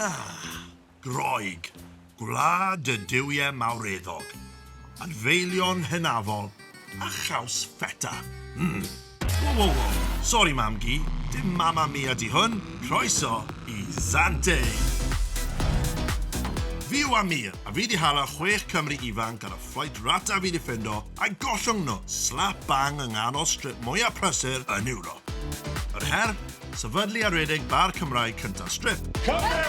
Ah, Groeg, gwlad y duwiau mawreddog, adfeilion hynafol, a chaws ffeta. Mm. Wo, wo, wo. Sori, mam gi, dim mama mia di hwn. Croeso i Zante. Fi yw Amir, a fi di hala chwech Cymru ifanc ar y fflait rata fi di ffendo A'i gollwng nhw slap bang yng nghanol strip mwyaf prysur yn Ewrop. Yr her? Sefydlu a rhedeg bar Cymraeg cyntaf strip. Cymru!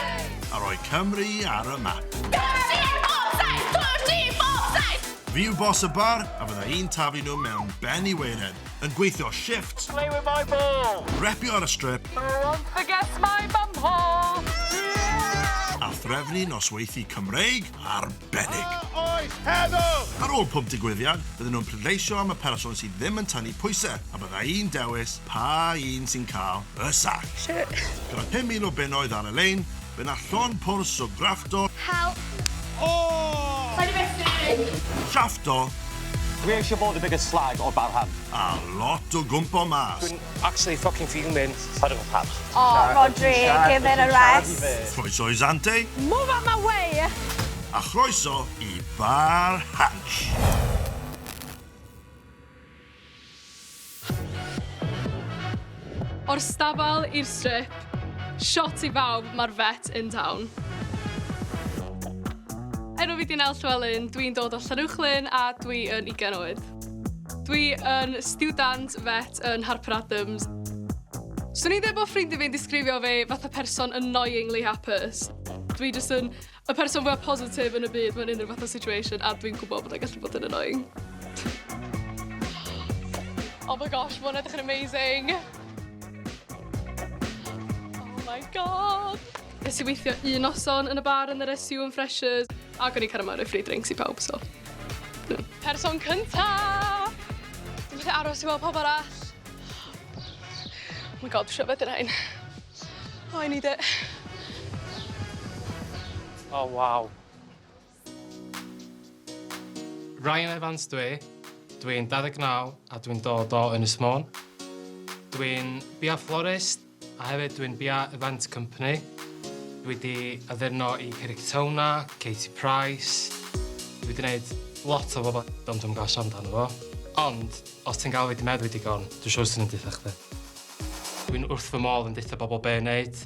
A rhoi Cymru ar y map. Cymru ar bob taith! Cymru bob taith! Fi yw boss y bar a fydda i'n taflu nhw mewn ben i weired, yn gweithio shifft. Play with my ball! Repio ar y strip. Who wants to get my bum hole? A threfnu nosweithi Cymreig? arbennig. A oes heddwch! Ar ôl pob digwyddiad, bydden nhw'n pleidleisio am y person sydd ddim yn tynnu pwysau, a bydda i'n dewis pa un sy'n cael y sac. Gyda 5,000 o bunnoedd ar y lein, fe wna llond pwrs o graffto. Help! O! Shaffto! Dwi eisiau bod y biggest slag o'r barhan. A lot o gwmpo mas. Actually fucking fuming. Paid â cael panic. O, Rhodri, give it a rest. Croeso i Zante. Move out my way! A chroeso i Bar Hansh. O'r stabal i'r strip, shot i bawb, mae'r vet in town. Enw fi di Nel Llewelyn, dwi'n dod o Llanuwchllyn a dwi yn 20 oed. Dwi yn stiwdant vet yn Harper Adams. Swn i'n dweud bod ffrindiau fi'n disgrifio fe fatha person annoyingly hapus. Dwi jyst yn y person fwyaf positif yn y byd mewn unrhyw fath o situation a dwi'n gwybod bod e'n gallu bod yn annoying. Oh my gosh, mae'n edrych yn amazing. Oh my god! Nes i weithio un noson yn y bar yn yr SU yn Freshers. Ac o'n i'n cael ymarfer free drinks i pawb, so. No. Person cynta! Dwi'n gallu aros i weld pawb arall. Oh my god, dwi'n rhyfedd i'r rhain. Oh, I need it. Oh, wow. Ryan Evans dw i, dw i'n 29 a dwi'n dod o Ynys Môn. Dw i'n biau florist a hefyd dw i'n biau event company. Dw i wedi addurno i Cerrictona, Katie Price, dw i wedi gwneud lot o bobl ond dwi'm yn cael siarad amdano fo. Ond, os ti'n galw fi 'di meddwi digon, dwi'n siŵr 'swn i'n deutha chdi. Dw i'n wrth fy modd yn deutha bobl be' i wneud.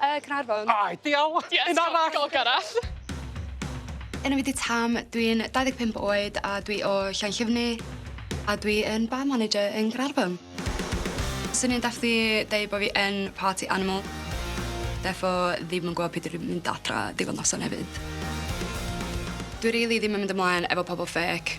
Yy Caernarfon. Ai, diawl! Yes, Un arall! Go, go Gareth! Enw fi 'di Tam, dwi'n 25 oed a dwi o Llanllyfni a dwi yn bar manager yn Caernarfon. Swn i'n dathlu deud bo' fi yn party animal. Defo ddim yn gwbo pryd dwi mynd adra diwedd noson hefyd. Dwi rili ddim yn mynd ymlaen efo pobol ffêc.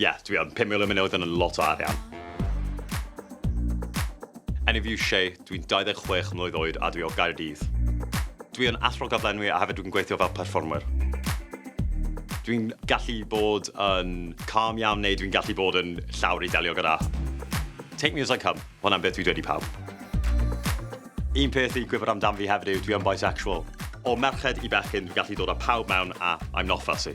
Ie, dwi yn. Pum mil o miloedd yn lot o arian. Enw fi yw Shay, dwi'n 26 mlwydd oed a dwi o Gaerdydd. Dwi yn athro gyflenwi a hefyd dwi'n gweithio fel perfformwyr. Dwi'n gallu bod yn calm iawn neu dwi'n gallu bod yn llawr i delio gyda. Take me as I come, ma' hwnna'n beth dwi dweud i pawb. Un peth i gwybod amdano fi hefyd yw dwi yn bisexual. O merched i bechgyn dwi'n gallu dod â pawb mewn a I'm not fussy.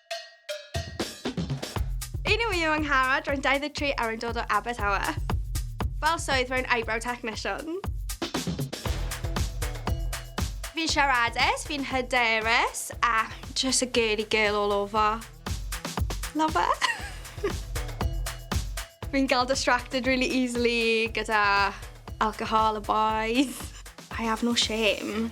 Yn yw yw Angharad, rwy'n 23 a rwy'n dod o Abertawe. Fel swydd rwy'n eyebrow technician. Fi'n siaradus, fi'n hyderus a just a girly girl all over. Love her. fi'n gael distracted really easily gyda alcohol a bois. I have no shame.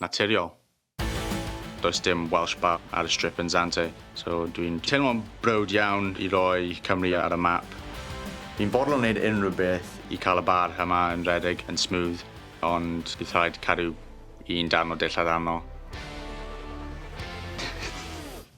naturiol. Does dim Welsh Bar ar y strip yn Zante, so dwi'n teimlo'n browd iawn i roi Cymru ar y map. Ni'n fodlon wneud unrhyw beth i cael y bar yma yn rhedeg yn smooth, ond bydd rhaid cadw un darn o dillad arno.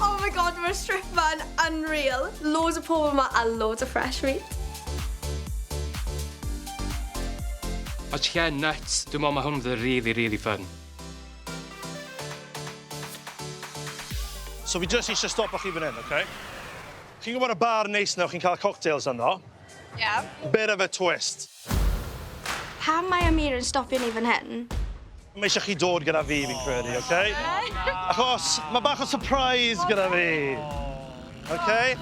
Oh my god, mae'r strip ma'n unreal. Loads o pobl yma a loads o fresh meat. O ie, nuts. Dwi'n meddwl mae hwn fydd really, really fun. So fi jyst eisiau stopo chi fan hyn, oce? Okay? Chi'n gwybod y bar neis na chi'n cael cocktails ynddo? Ie. Yeah. Bit of a twist. Pam mae Amir yn stopio ni fan hyn? Mae eisiau chi dod gyda fi, fi'n credu, oce? Okay? Oh, Achos mae bach o surprise gyda fi. Oce? Oh, okay?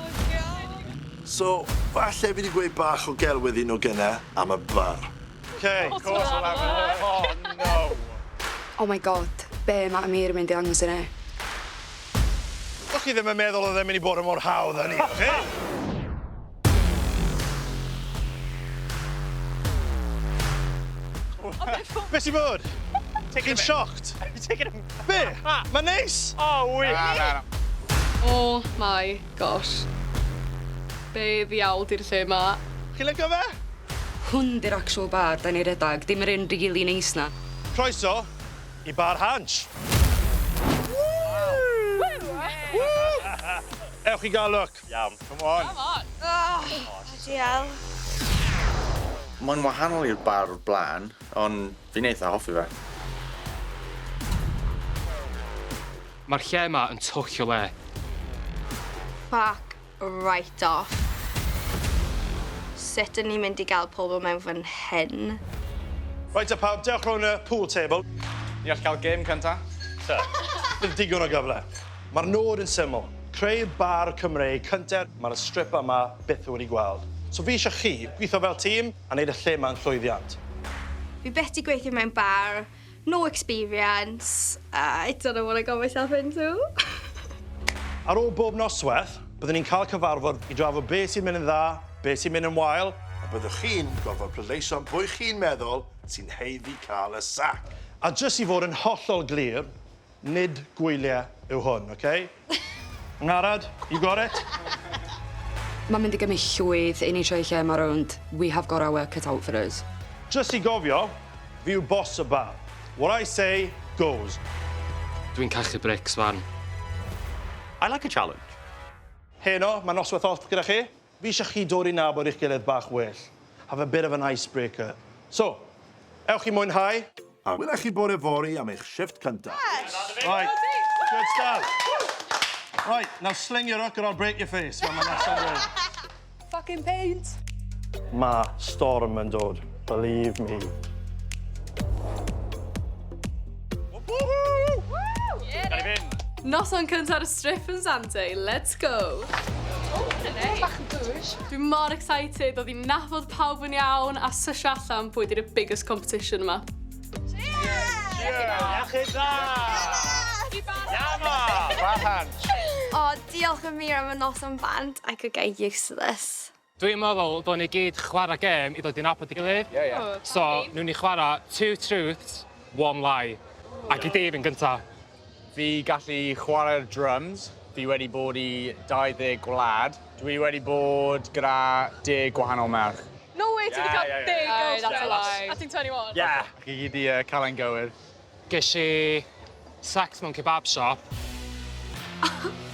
So, falle fi wedi gweud bach o gelwydd un o gyna am y bar. Oce. Oh, no. Oh my god, be mae Amir yn mynd i ddangos i ni? Dych chi ddim yn meddwl oedd e'n mynd i bod yn mor hawdd â ni, oce? Be sy'n bod? Chi'n shocked? Be? Mae'n neis! O, wych! Na, na, na. Oh my gosh. Be ddiawl di'r lle ma? Chi'n licio fe? Hwn di'r actual bar da ni redag, dim yr un rili neis na. Croeso i Bar Hansh. Ewch i gael look. Iawn. Come on! Come on! Oh! Bloody hell. Mae'n wahanol i'r bar o'r blaen, ond fi'n eitha hoffi fe. Mae'r lle yma yn twll o le. Fuck right off. Sut o'n i'n mynd i gael pobl mewn fan hyn? Reit te pawb, dewch rownd y pool table. Ni all cael gêm cynta? Tŷ. Dim digon o gyfle. Mae'r nod yn syml, creu bar Cymreig cynta. Mae'r strip yma byth wedi gweld. So fi eisiau chi, gwitho fel tîm a neud y lle yma yn llwyddiant. Fi byth di gweithio mewn bar, no experience, I don't know what I got myself into. Ar ôl bob nosweth, byddwn ni'n cael cyfarfod i drafod be sy'n mynd yn dda, be sy'n mynd yn wael, a byddwch chi'n gorfod pleidleisio'n pwy chi'n meddwl sy'n haeddu cael y sac. A jyst i fod yn hollol glir, Nid gwylie yw hwn, oce? Angharad, you got it? Mae'n mynd i gymryd llwyth i ni troi lle yma rownd, we have got our work cut out for us. Jyst i gofio, fi yw boss y bar. What I say, goes. Dwi'n cachu brics 'wan. I like a challenge. Heno, mae noswaith off gyda chi. Fi eisiau chi dod i nabod eich gilydd bach well. Have a bit of an icebreaker. So, ewch i mwynhau. A wela chi bore fory am eich shifft cynta. Right, good stuff. Right, now sling your hook or I'll break your face, fel ma Nesa'n dweud. Fucking paint! Ma storm yn dod, believe me. Noson cynta'r strip yn Sante, let's go! Oh, bach yn bwys. Dwi mor excited o ddim nafod pawb yn iawn a sysio allan pwy di'r biggest competition yma. Cheers! Cheers! Yama! Wahan! O, diolch yn mir am y noson band. I could get used to this. Dwi'n meddwl dylwn ni gyd chwarae gêm i ddod i nabod ei gilydd. Ie, ie. So, newn ni chwarae two truths, one lie. Ac i Dave yn gynta. Fi gallu chwarae'r drums. Fi wedi bod i 20 gwlad. Dwi wedi bod gyda deg gwahanol merch. No way, ti wedi cael deg girlfriend a ti'n 21? Ie! Chi gyd 'di cael e'n gywir. Ges i sacked mewn kebab shop.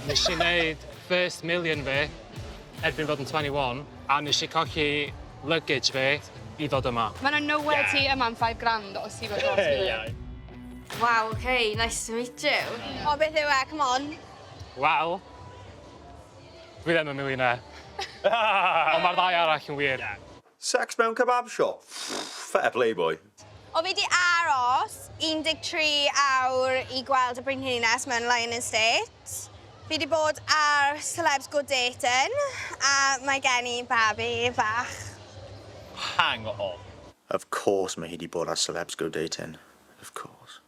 Nes i neud first million fi erbyn fod yn twenty one a nes i colli luggage fi i ddod yma. Ma' 'na no wê ti yma am five grand os ti efo Ie. Waw ok, nice to meet you. O beth yw e, come on. Wel, dwi ddim yn millionaire. Ond ma'r ddau arall yn wir. Sex mewn kebab shop? Ffff, fair play boi. O fi 'di aros 13 awr i gweld y Brenhines mewn Lionyn State. Fi 'di bod ar Celebs Go Dating a mae gen i babi fach. Hang on. Of course mae hi 'di bod ar Celebs Go Dating. Of course.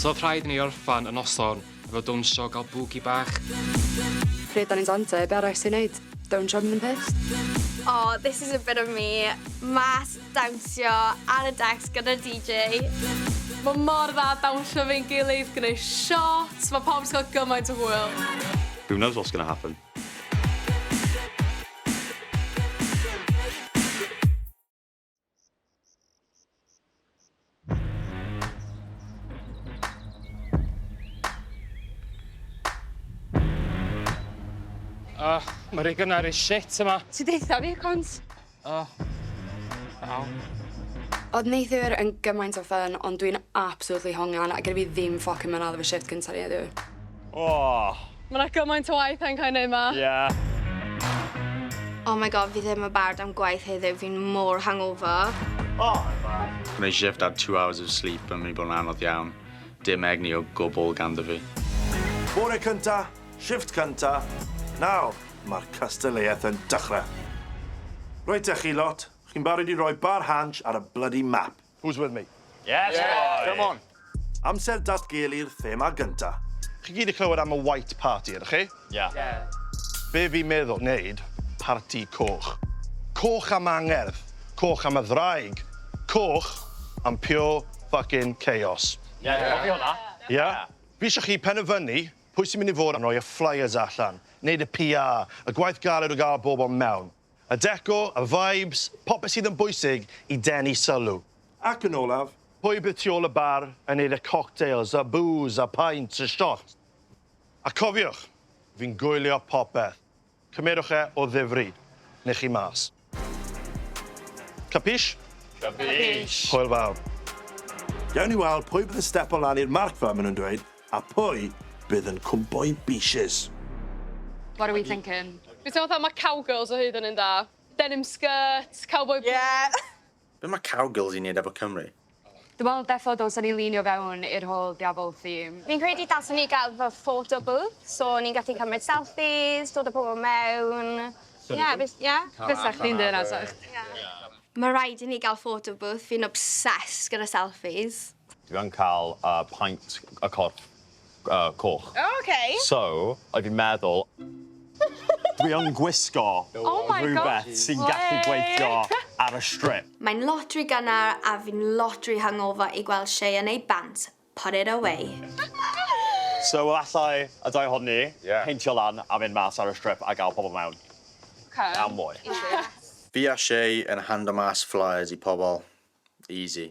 T'od rhaid i ni orffan y noson efo dawnsio a gael bwgi bach. Pryd dan ni'n dawnsio, be arall ti'n neud? Dawnsio mynd yn pissed. Aww this is a bit of me, mas dawnsio ar y decks gyda'r DJ. Mae mor dda dawnsio efo'n gilydd, gwneud shots, mae pawb jyst yn cael gymaint o hwyl. Who knows what's gonna happen? O, ma' rei gynnar i shit yma. Ti deutha fi, Cont. Oh. Wow. Oedd neithiwr yn gymaint o ffyn, ond dwi'n absolutely hongian, a gyda fi ddim ffocin mynd ar fy shift cyntaf ni heddiw. Oh. Mae yna gymaint o waith yn cael ei wneud yma. Yeah. Oh my god, fi ddim yn barod am gwaith heddiw, fi'n mor hangover. Oh, I'm back. Mae shift ar two hours of sleep yn mynd i bod yn anodd iawn. Dim egni o gwbl ganddo fi. Bore cynta, Shift cynta, nawr mae'r cystadleuaeth yn dechrau. Reit te chi lot, chi'n barod i roi bar hansh ar y bloody map? Who's with me? Yes boys! Come on! Amser datgelu'r thema gynta. Chi gyd 'di clywed am y White Party, ydych chi? Ie. Ie. Be fi'n meddwl wneud, parti coch. Coch am angerdd, coch am y ddraig, coch am pure fucking chaos. Ie, cofio hwnna. Ie? Fi isio chi penderfynu Pwy sy'n mynd i fod yn rhoi y flyers allan, wneud y PR, y gwaith galed o gael bobl mewn? Y decor, y vibes, popeth sydd yn bwysig i denu sylw. Ac yn olaf, pwy bydd tu ôl y bar yn wneud y cocktails, y bŵs, y paent, y shots? A cofiwch, fi'n gwylio popeth. Cymerwch e o ddifri, neu chi mas. Capish? Capish. Hwyl fawr. Gawn ni weld pwy bydd yn stepo lan i'r marc fel maen nhw'n dweud, a pwy bydd yn cwmpo'i beeshes. What are we thinking? Fi'n teimlo fatha ma' cowgirls o hyd yn un da. Denim skirt, cowboy boots. Ie! Be mae Cowgirls i wneud efo Cymru? Dim ond deffo dylsen ni lînio fewn i'r whole Diafol theme. Fi'n credu dylsen ni gael fel photo booth so ni'n gallu cymryd selfies, dod a pobl mewn. Ie, fys- ie? Fysa chdi'n deud na 'sech? Ie. Mae rhaid i ni gael photo booth, fi'n obsessed gyda selfies. Dwi yn cael y paent y corff yy coch. O oce. So oedd hi'n meddwl dwi yn gwisgo rhywbeth sy'n gallu gweithio ar y strip. Mae'n lot ry gynnar a fi'n lot ry hungover i gweld Shay yn ei bant, put it away. So efallai y ddau ohonon ni peintio lan a mynd mas ar y strip a gael pobl mewn. Am mwy. Fi a Shay yn hando mas flyers i pobl. Easy.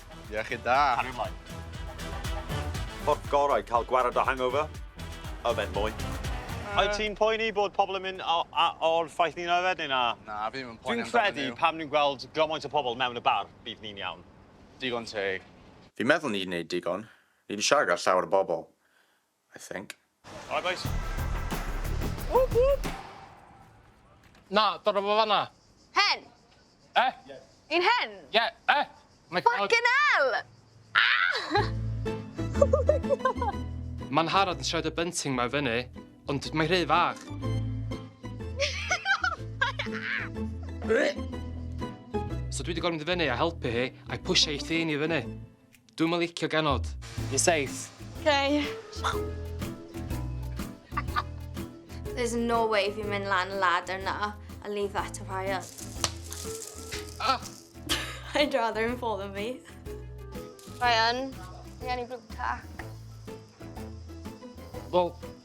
Iechyd da. Cario mlaen. Ffordd gorau i cael gwared o hangover? Yfed mwy. Wyt ti'n poeni bod pobl yn mynd o'r ffaith ni'n yfed neu na? Na, fi ddim yn poeni amdano nhw. Dwi'n credu pam ni'n gweld gymaint o pobl mewn y bar, bydd ni'n iawn. Digon teg. Fi'n meddwl ni'n neud digon. Ni'n siarad â llawer o bobl. I think. Alright boys. Whoop whoop! Na, dyna fo fanna. Hen? Eh? Yn hen? Ie, eh? My God. Fucking hell! Ah! Mae'n harad yn siarad y bunting mae fyny, ond mae rhy fach. so dwi wedi gorfod mynd i fyny a helpu hi, a'i pwysio ei thyn i fyny. Dwi'm yn licio ganod. Yn safe. Hei. There's no way fi'n mynd lan y ladder na a leave that to Ryan. Ah! I'd rather him fall than me. Ryan, fi angen i blue tack. Wel,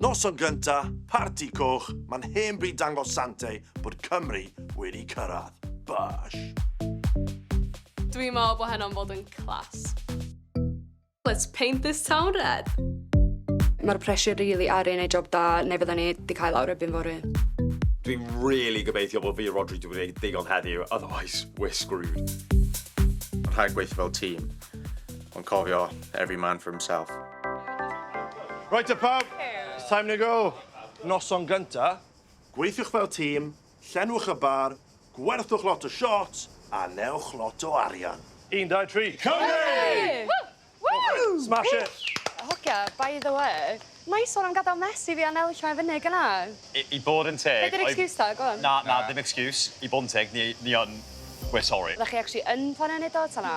Noson gynta, parti coch, mae'n hen bryd dangos Sante bod Cymru wedi cyrraedd. Bash! Dwi'n meddwl bod heno'n bod yn class. Let's paint this town red! Mae'r pressure really ar ei wneud job da neu fydda ni wedi cael awr erbyn fory. Dwi'n really gobeithio bod fi a Rodri wedi gwneud digon heddiw, otherwise we're screwed. Rhaid gweithio fel tîm, ond cofio, every man for himself. Right te pawb, it's time to go! Noson gynta, gweithiwch fel tîm, Llenwch y bar, gwerthwch lot o shots a newch lot o arian. Un, dau, tri, Cymru! Smash it! Hogia, by the way, nice one am gadael mess i fi a Nel llai fyny gyna. I bod yn teg... Be di'r excuse ta, go on. Na, na, ddim excuse. I bod yn teg, ni yn... We're sorry. Oeddech chi actually yn planio neud o ta na?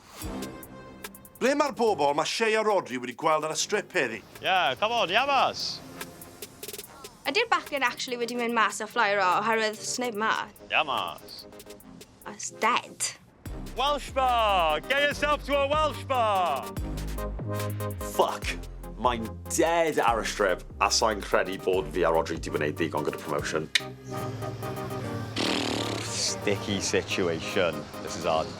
Ble mae'r bobl mae Shea a Rhodri wedi gweld ar y strip heddi? Yeah, come on, Yavas! Ydi'r bachgen actually wedi mynd mas a fflio raw oherwydd sneb ma? Yavas! It's dead. Welsh bar! Get yourself to a Welsh bar! Fuck! Mae'n dead ar y strip a sa'n credu bod fi a Rhodri wedi gwneud ddigon gyda promotion. Sticky situation. This is odd.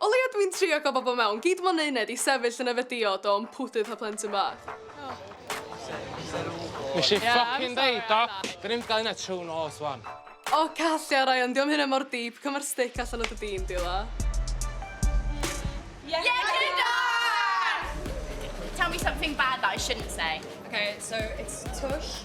O leia dwi'n trio cael bobl mewn, gyd mo'n uned i sefyll yn yfed diod o mpwdu pa plentyn bach. Nes i ffycin deud o! Dyn ni'm 'di ga'l uned trw nos wan. O callia Ryan, dio'm hynna mor deep, cam yr stick allan o dy dîn di la. Iechyd da! Tell me something bad that I shouldn't say. Ok, so it's tush.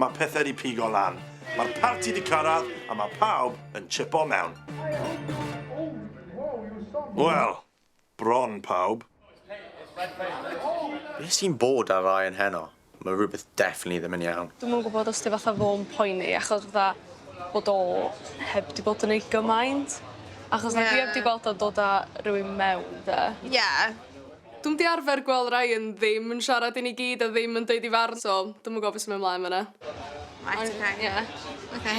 Mae pethau di pigo lan. Mae'r parti di cyrraedd a mae pawb yn chipo mewn. Wel, bron pawb. Be sy'n bod ar Ryan heno? Mae rhywbeth definitely ddim yn iawn. Dwi'm yn gwybod os di fatha fo'n poeni achos fatha bod o heb di bod yn ei gymaint. Achos yeah. dwi heb di gweld o'n dod â rhywun mewn de. Yeah. Dwi'm 'di arfer gweld Ryan ddim yn siarad i ni gyd a ddim yn deud 'i farn so dwi'm yn gwbo be' sy'n myn' mlaen fan 'na. Reit oce. Ond ie. Oce.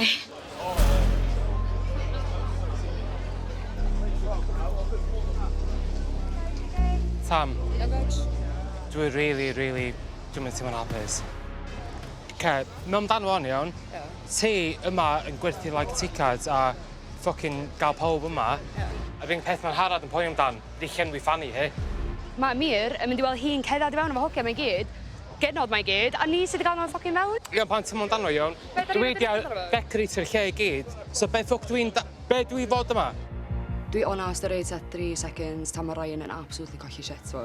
Tam. Ia Betsh? Dwi rili rili dwi'm yn teimlo'n hapus. Oce mewn amdano fo'n iawn. Ia. Ti yma yn gwerthu like tickets a ffycin ga'l pawb yma. Ia. Yr unig peth ma' Harald yn poeni amdan. Fi llenwi fanny he. Mae Mir yn mynd i weld hi'n cerdded i fewn efo hogia mae gyd. Genod mae gyd. A ni sy 'di gael nhw yn ffocin fewn. Iawn pa'n tymo amdano iawn? Dwi 'di decoratio'r lle i gyd so be ffwc dwi'n da- be dwi fod yma? Dwi onast yr age at three seconds tan ma Ryan yn absolutely colli shit fo.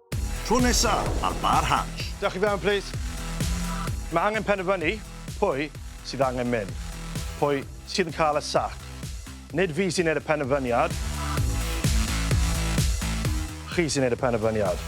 Tro nesa ar Bar Hatch. Dewch i fewn plîs. Mae angen penderfynu pwy sydd angen mynd. Pwy sydd yn cael y sac. Nid fi sy'n neud y penderfyniad. Chi sy'n neud y penderfyniad.